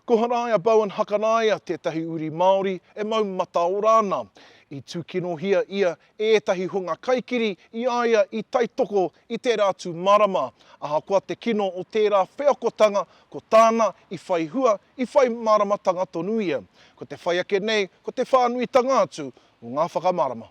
Ko Haraia Bowen Hakaraia tētahi uri Māori e mau mataora ana. I tūkinohia ia e ētahi hunga kaikiri i a ia i taitoko i tērā tū marama. Ahakoa te kino o tērā wheakotanga, ko tāna i whai hua, i whai māramatanga tonu ia. Ko te whai ake nei ko te whānuitanga atu o ngā whakamarama.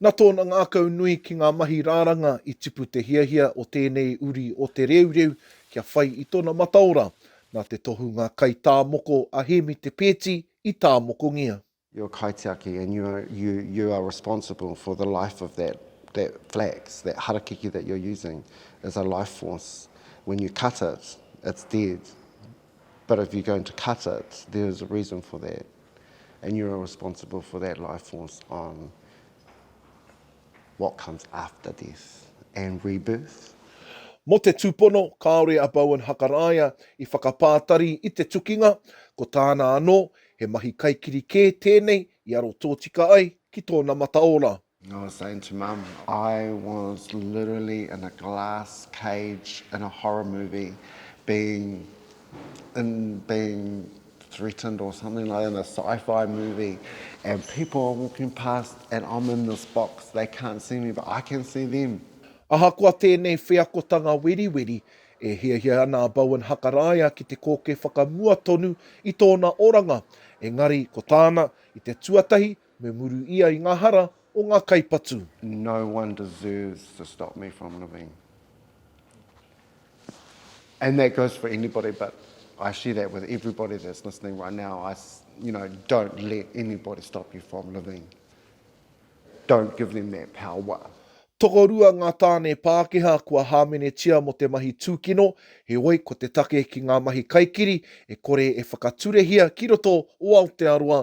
Na tōna ngākau nui ki ngā mahi rāranga i tipu te hiahia o tēnei uri o Te Reureu kia whai i tona mataora, na te tohunga kai tā moko a Hēmi Te Peeti i tāmokongia. Your kaitiaki and you you you are responsible for the life of that that flax, that harakeke that you're using is a life force. When you cut it, it's dead. But if you're going to cut it, there is a reason for that. and you are responsible for that life force on what comes after death and rebirth. Mō te tūpono, kāore a Bowen Hakaraia i whakapātari i te tukinga, ko tāna anō, he mahi kaikiri kē tēnei i aro tōtika ai ki tōna mataora. I was saying to mum, I was literally in a glass cage in a horror movie being in being threatened or something like in a sci-fi movie and people are walking past and I'm in this box, they can't see me but I can see them. Ahakoa tēnei wheakotanga weriweri, e hiahia ana a Bowen Hakaraia ki te kōke whakamua tonu i tōna oranga, engari ko tāna, i te tuatahi, Me muru ia i nga hara o nga kaipatu. No one deserves to stop me from living. And that goes for anybody but I share that with everybody that's listening right now. I, you know, don't let anybody stop you from living. Don't give them that power. Tokorua ngā tāne Pākehā kua hāmenetia mō te mahi tūkino, heoi ko te take ki ngā mahi kaikiri e kore e whakaturehia ki roto o Aotearoa